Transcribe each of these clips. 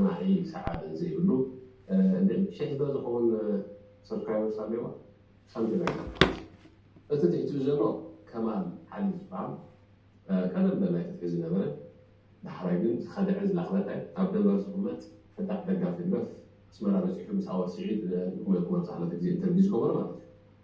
ማሂ ሰዓል ዘይብሉ እንዴ ሸሕ ዶ ዝከውን ሰብስክራይበርስ ኣለዋ ሳምቲንግ ላይክ ዛት ፕሊዝ እቲ ትሕቲኡ ዘሎ ከማል ዓሊ ዝብሃል ቀደም በላይ ተትሒዙ ዝነበረ ዳሕራይ ግን ዝከደዐ ዝላክለቀ ኣብ ደንበር ዝቅመጥ ፈጣሕ ደጋፊ ህግደፍ ኣስመራ በጺሑ ምስ ኣወል ሲዒድ ንኩመልኩም ኣብዛ ክልተ ግዜ ኢንተርቪው ዝገበሮ ማለት እዩ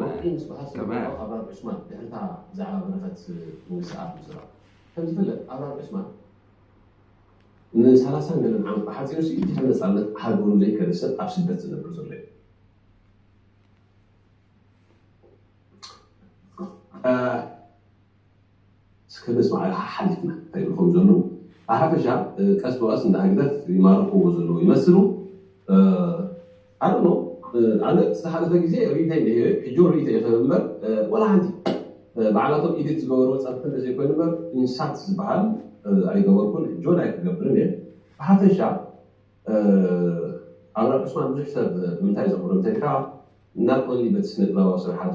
ወርቂ ምስበሃስ ዝነበሮ ኣብራር ዑስማን ድሕሪ እታ ብዛዕባ በረኸት ምውሳኣ ምዝራብ ከም ዝፍለጥ ኣብራር ዑስማን ንሰላሳን ገለን ዓመት ብሓፂሩ ሲ ድሕሪ ነፃነት ሃገሩ ዘይከደ ሰብ ኣብ ስደት ዝነብር ዘሎ እዩ እስከ ነስምዓ ረሓ ሓሊፍና እንታይ ይብሉ ከም ዘለዉ። ብሓፈሻ ቀስ ብቐስ እንዳ ህግደፍ ይማርኽዎ ዘለዉ ይመስሉ። I don't know ኣነ ዝሓለፈ ግዜ ሪኢቶይ እንሄ ሕጂ ውን ሪኢቶይ ይኸበብ እምበር ዋላ ሓንቲ ባዕላቶም ኢዲት ዝገበርዎ ጸርፊ እንተ ዘይኮይኑ እምበር ኢንሳት ዝበሃል ኣይገበርኩን ሕጂ ውን ኣይክገብርን እየ። ብሓፈሻ ኣብራር ዑስማን ብዙሕ ሰብ ንምንታይ ዘኽብሮ እንተ ኢልካ not only በቲ ስነጥበባዊ ስርሓቱ፣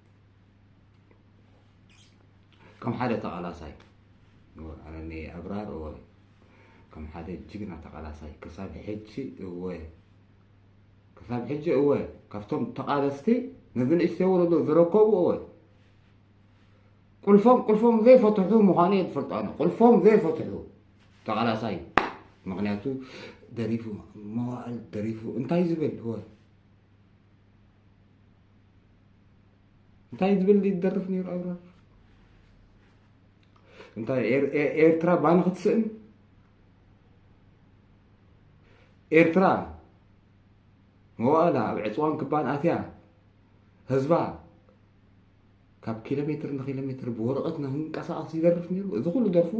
ከም ሓደ ተቓላሳይ ኣነ ኣብራር እወ ከም ሓደ ጅግና ተቓላሳይ ክሳብ ሕጂ እወ ክሳብ ሕጂ እወ ካብቶም ተቓለስቲ ነዚ ንእሽተይ ወለዶ ዝረከቡ እወ ቁልፎም ቁልፎም ዘይፈትሑ ምዃኑ እየ ዝፈልጦ ኣነ ቁልፎም ዘይፈትሑ ተቓላሳይ ምክንያቱ ደሪፉ መዋእል ደሪፉ እንታይ ዝብል እወ እንታይ ዝብል ይደርፍ ነይሩ ኣብራ እንታይ ኤርትራ ባኒ ክትስእን ኤርትራ መዋእላ ኣብ ዕፅዋን ክባን ኣትያ ህዝባ ካብ ኪሎ ሜትር ንኪሎ ሜትር ብወረቐት ንክንቀሳቐስ ይደርፍ ነይሩ እዚ ኩሉ ደርፉ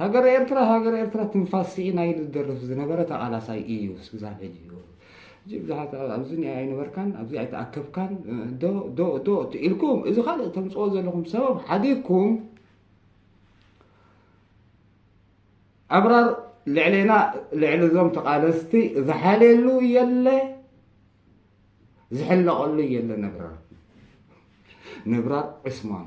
ሃገረ ኤርትራ ሃገረ ኤርትራ ትንፋስ ሲኢና ኢሉ ዝደርፍ ዝነበረ ተቃላሳይ ኢዩ ስዛብ ሕጂ ውን ሕጂ ብዙሓት ኣብዚ ኒኣ ኣይነበርካን ኣብዚ ኣይተኣከብካን ዶ ዶ ዶ ኢልኩም እዚ ካልእ ተምጽኦ ዘለኹም ሰበብ ሓዲግኩም ኣብራር ልዕሌና ልዕሊ እዞም ተቃለስቲ ዝሓልየሉ የለ ዝሕለቐሉ የለ ነብራር ነብራር ዕስማን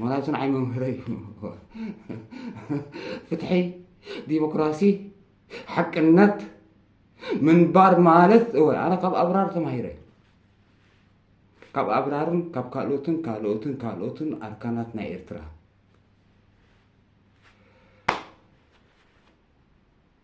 ምክንያቱ ንዓይ መምህረይ ፍትሒ ዲሞክራሲ ሓቅነት ምንባር ማለት እወ ኣነ ካብ ኣብራር ተማሂረ ካብ ኣብራርን ካብ ካልኦትን ካልኦትን ካልኦትን ኣርካናት ናይ ኤርትራ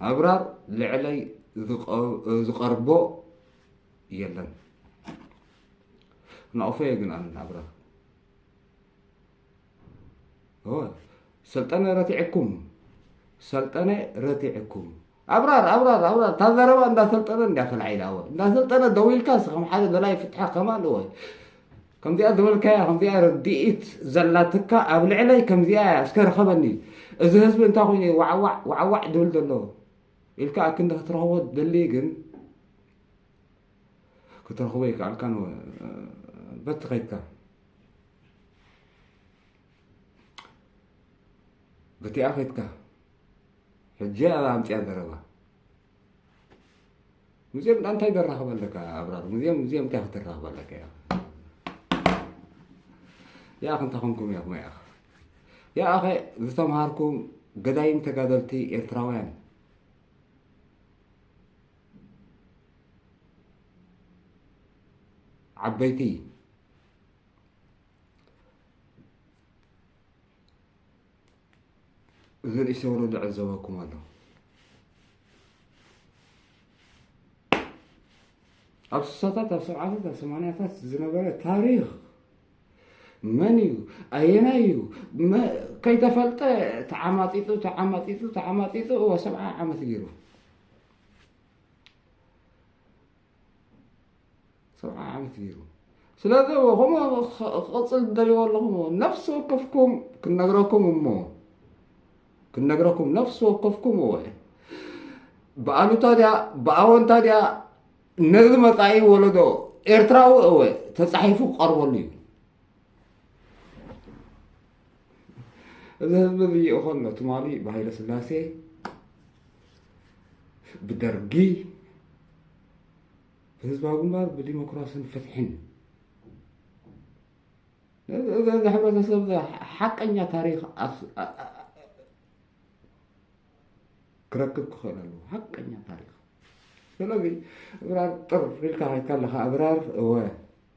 ኣብራር ልዕለይ ዝቐርቦ የለን ናቕፈዮ ግን ኣነ ኣብራር ሰልጠነ ረቲዕኩም ሰልጠነ ረቲዕኩም ኣብራር ኣብራር ኣብራር እታ ዘረባ እንዳሰልጠነ እንዲያ ተላዒላ ወ እንዳሰልጠነ ደው ኢልካ ስከም ሓደ ደላይ ፍትሒ ከማን ወ ከምዚኣ ዝበልካያ ከምዚኣ ርድኢት ዘላትካ ኣብ ልዕለይ ከምዚኣ እያ እስከ ርኸበኒ እዚ ህዝቢ እንታይ ኮይኑ እዩ ዋዕዋዕ ዋዕዋዕ ድብል ዘሎ ኢልካ ኣክንዲ ክትረኽቦ ደሊ ግን ክትረኽቦ ይከኣልካ በቲ ከይድካ በቲኣ ከይድካ ሕጂ ኣብ ኣምፅያ ዘረባ ምስኦም እንታይ ደራኸብ ኣለካ ኣብራር ምስኦም ምስኦም እንታይ ክትራኸብ ኣለካ ያ ያኽ እንታይ ኮንኩም ያኹም ያኽ ያኸ ዝተምሃርኩም ገዳይም ተጋደልቲ ኤርትራውያን ዓበይቲ እዚ ርእሰ ወለዶ ዕዘበኩም ኣሎ ኣብ ስሳታት ኣብ ሰብዓታት ኣብ ሰማንያታት ዝነበረ ታሪክ መን እዩ ኣየናይ እዩ ከይተፈልጠ ተዓማጢጡ ተዓማጢጡ ተዓማጢጡ እወ ሰብዓ ዓመት ገይሩ ሰብዓ ዓመት ገይሩ ስለዚ ከምኡ ክቕፅል ትደልይዎ ኣለኹም ነፍሲ ወከፍኩም ክንነግረኩም እሞ ክንነግረኩም ነፍሲ ወከፍኩም እወ ብኣሉታ ድያ ብኣወንታ ድያ ነዚ መፃኢ ወለዶ ኤርትራዊ እወ ተፃሒፉ ክቐርበሉ እዩ እዚ ህዝቢ እዚ ይእኸሎ ትማሊ ብሃይለ ስላሴ ብደርጊ ብህዝባዊ ግንባር ብዲሞክራሲን ፍትሕን እዚ ሕብረተሰብ እዚ ሓቀኛ ታሪክ ክረክብ ክኽእል ኣለዎ ሓቀኛ ታሪክ ስለዚ እብራር ጥር ኢልካ ከይድካ ኣለካ እብራር እወ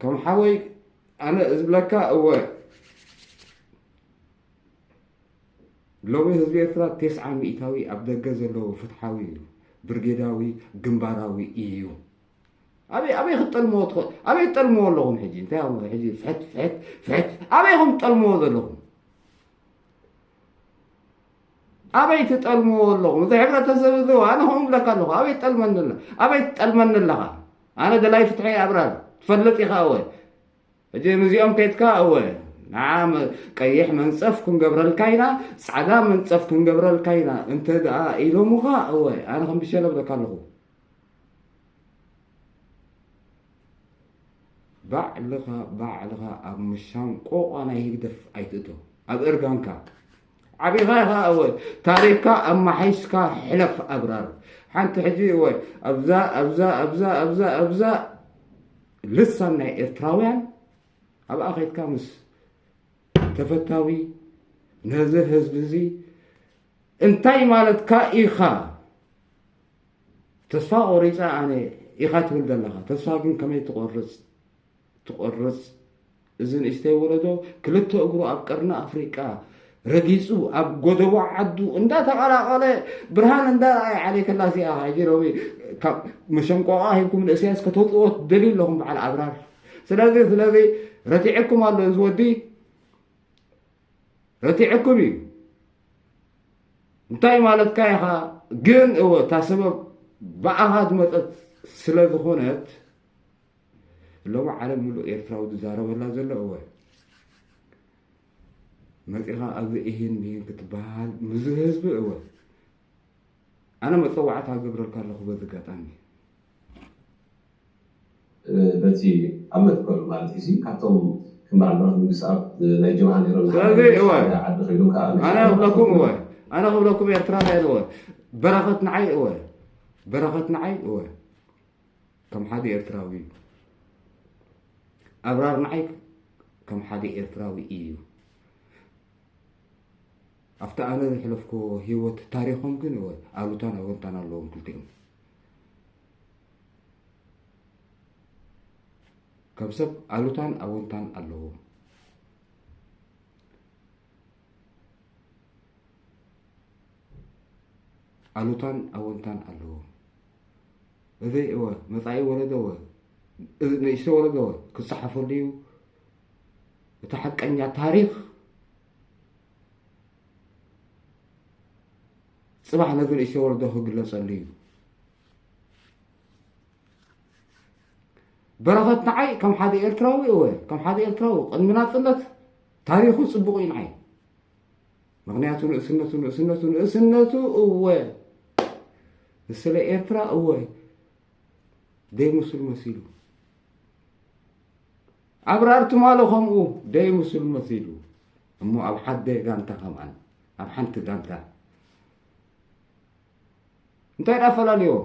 ከም ሓወይ ኣነ ዝብለካ እወ ሎሚ ህዝቢ ኤርትራ ቴስዓ ሚእታዊ ኣብ ደገ ዘለዎ ፍትሓዊ እዩ ብርጌዳዊ ግንባራዊ እዩ ኣበይ ኣበይ ክትጠልምዎ ትኸ ኣበይ ትጠልምዎ ኣለኹም ሕጂ እንታይ ኹም ሕጂ ፍሕት ፍሕት ፍሕት ኣበይ ኹም ትጠልምዎ ዘለኹም ኣበይ ትጠልምዎ ኣለኹም? እዚ ሕብረተሰብ እዚ ኣነ ከምኡ እብለካ ኣለኹ ኣበይ ትጠልመኒ ኣለ ኣበይ ትጠልመኒ ኣለኻ? ኣነ ደላይ ፍትሒ እየ ኣብራር ትፈልጥ ኢኻ እወ ሕጂ ንዚኦም ከይትካ እወ ንዓ ቀይሕ መንጸፍ ክንገብረልካ ኢና ጻዕዳ መንጸፍ ክንገብረልካ ኢና እንተ ደኣ ኢሎምኻ እወ ኣነ ከም ብሸለ እብለካ ኣለኹ ባዕልኻ ባዕልኻ ኣብ ምሻንቆቋ ናይ ህግደፍ ኣይትእቶ ኣብ እርጋንካ ዓቢኻ ኢኻ እወ ታሪኽካ ኣማሓይሽካ ሕለፍ ኣብራር ሓንቲ ሕጂ እወ ኣብዛ ኣብዛ ኣብዛ ኣብዛ ኣብዛ ልሳን ናይ ኤርትራውያን ኣብኣ ከይትካ ምስ ተፈታዊ ነዚ ህዝቢ እዚ እንታይ ማለትካ ኢኻ ተስፋ ቆሪፀ ኣነ ኢኻ ትብል ዘለኻ ተስፋ ግን ከመይ ትቆርፅ ትቆርጽ እዚ ንእሽተይ ወለዶ ክልተ እግሩ ኣብ ቀርኒ ኣፍሪቃ ረጊጹ ኣብ ጎደቦ ዓዱ እንዳተቐላቐለ ብርሃን እንዳረኣየ ዓሌትላ እዚኣ ሕጂ ሎሚ ካብ መሸንቆቓ ሂብኩም ንእስያስ ከተውፅዎ ትደልዩ ኣለኹም በዓል ኣብራር ስለዚ ስለዚ ረቲዐኩም ኣሎ እዚ ወዲ ረቲዐኩም እዩ እንታይ ማለትካ ኢኻ ግን እወ እታ ሰበብ ብኣኻ ዝመፀት ስለ ዝኾነት ሎሚ ዓለም ምሉእ ኤርትራዊ ዝዛረበላ ዘሎ እወ መፂኻ ኣብዚ እሂን ብሂን ክትበሃል ምዝ ህዝቢ እወ ኣነ መፀዋዕታ ገብረልካ ኣለኹ በዚ ኣጋጣሚ በቲ ኣብ መትከሉ ማለት እዩ ካብቶም ከም በዓል በረክ ንግስኣብ ናይ ጀብሃ ነይሮም ስለዚ እወ ዓዲ ከይዶም ከዓ ኣነ ክብለኩም እወ ኣነ ክብለኩም ኤርትራ ናይ እወ በረኸት ንዓይ እወ በረኸት ንዓይ እወ ከም ሓደ ኤርትራዊ እዩ ኣብራር ንዓይ ከም ሓደ ኤርትራዊ እዩ ኣብቲ ኣነ ዝሕለፍኮ ሂወት ታሪኮም ግን ወ ኣሉታን ኣወንታን ኣለዎም ክልቲኦም ከም ሰብ ኣሉታን ኣወንታን ኣለዎም ኣሉታን ኣወንታን ኣለዎ እዚ ወ መፃኢ ወለዶ ወ እዚ ንእሽተ ወለዶ ወ ክፀሓፈሉ እዩ እቲ ሓቀኛ ታሪክ ፅባሕ ነዚ ንእሽተ ወለዶ ክግለፀሉ እዩ በረኸት ንዓይ ከም ሓደ ኤርትራዊ እወ ከም ሓደ ኤርትራዊ ቅድሚ ናፅነት ታሪኹ ጽቡቕ እዩ ንዓይ ምክንያቱ ንእስነቱ ንእስነቱ ንእስነቱ እወ ንስለ ኤርትራ እወ ደይምስሉ መሲሉ ኣብራር ትማሎ ከምኡ ደይምስሉ መሲሉ እሞ ኣብ ሓደ ጋንታ ከምኣን ኣብ ሓንቲ ጋንታ እንታይ ዳ ኣፈላለዮም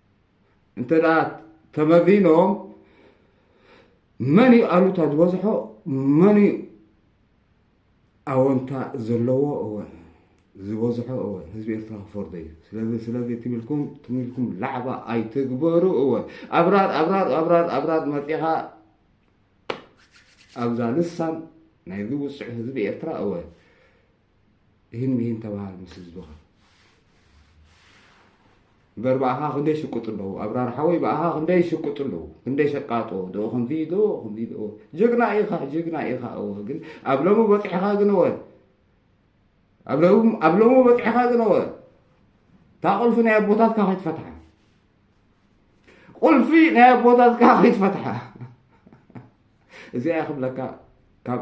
እንተ ተመሪኖም መን እዩ ኣሉታ ዝበዝሖ መን እዩ ኣወንታ ዘለዎ እወ ዝበዝሖ እወ ህዝቢ ኤርትራ ክፈርዶ እዩ ስለዚ ስለዚ ትሚልኩም ትሚልኩም ላዕባ ኣይትግበሩ እወ ኣብራር ኣብራር ኣብራር ኣብራር መፂኻ ኣብዛ ልሳን ናይዚ ውፅዕ ህዝቢ ኤርትራ እወ እሂን ምሂን ተባሃል ምስ ህዝብኻ እምበር ብኣኻ ክንደይ ሽቁጥ ኣለዉ ኣብራር ሓወይ ብኣኻ ክንደይ ሽቁጥ ኣለዉ ክንደይ ሸቃጦ ዶ ከምዚ ዶ ከምዚ ዶ ጅግና ኢኻ ጅግና ኢኻ እወ ግን ኣብ ሎሚ በፂሕኻ ግን እወ ኣብ ሎሚ በፂሕኻ ግን እወ እታ ቁልፊ ናይ ኣቦታትካ ከይትፈትሓ ቁልፊ ናይ ኣቦታትካ ከይትፈትሓ እዚኣ ክብለካ ካብ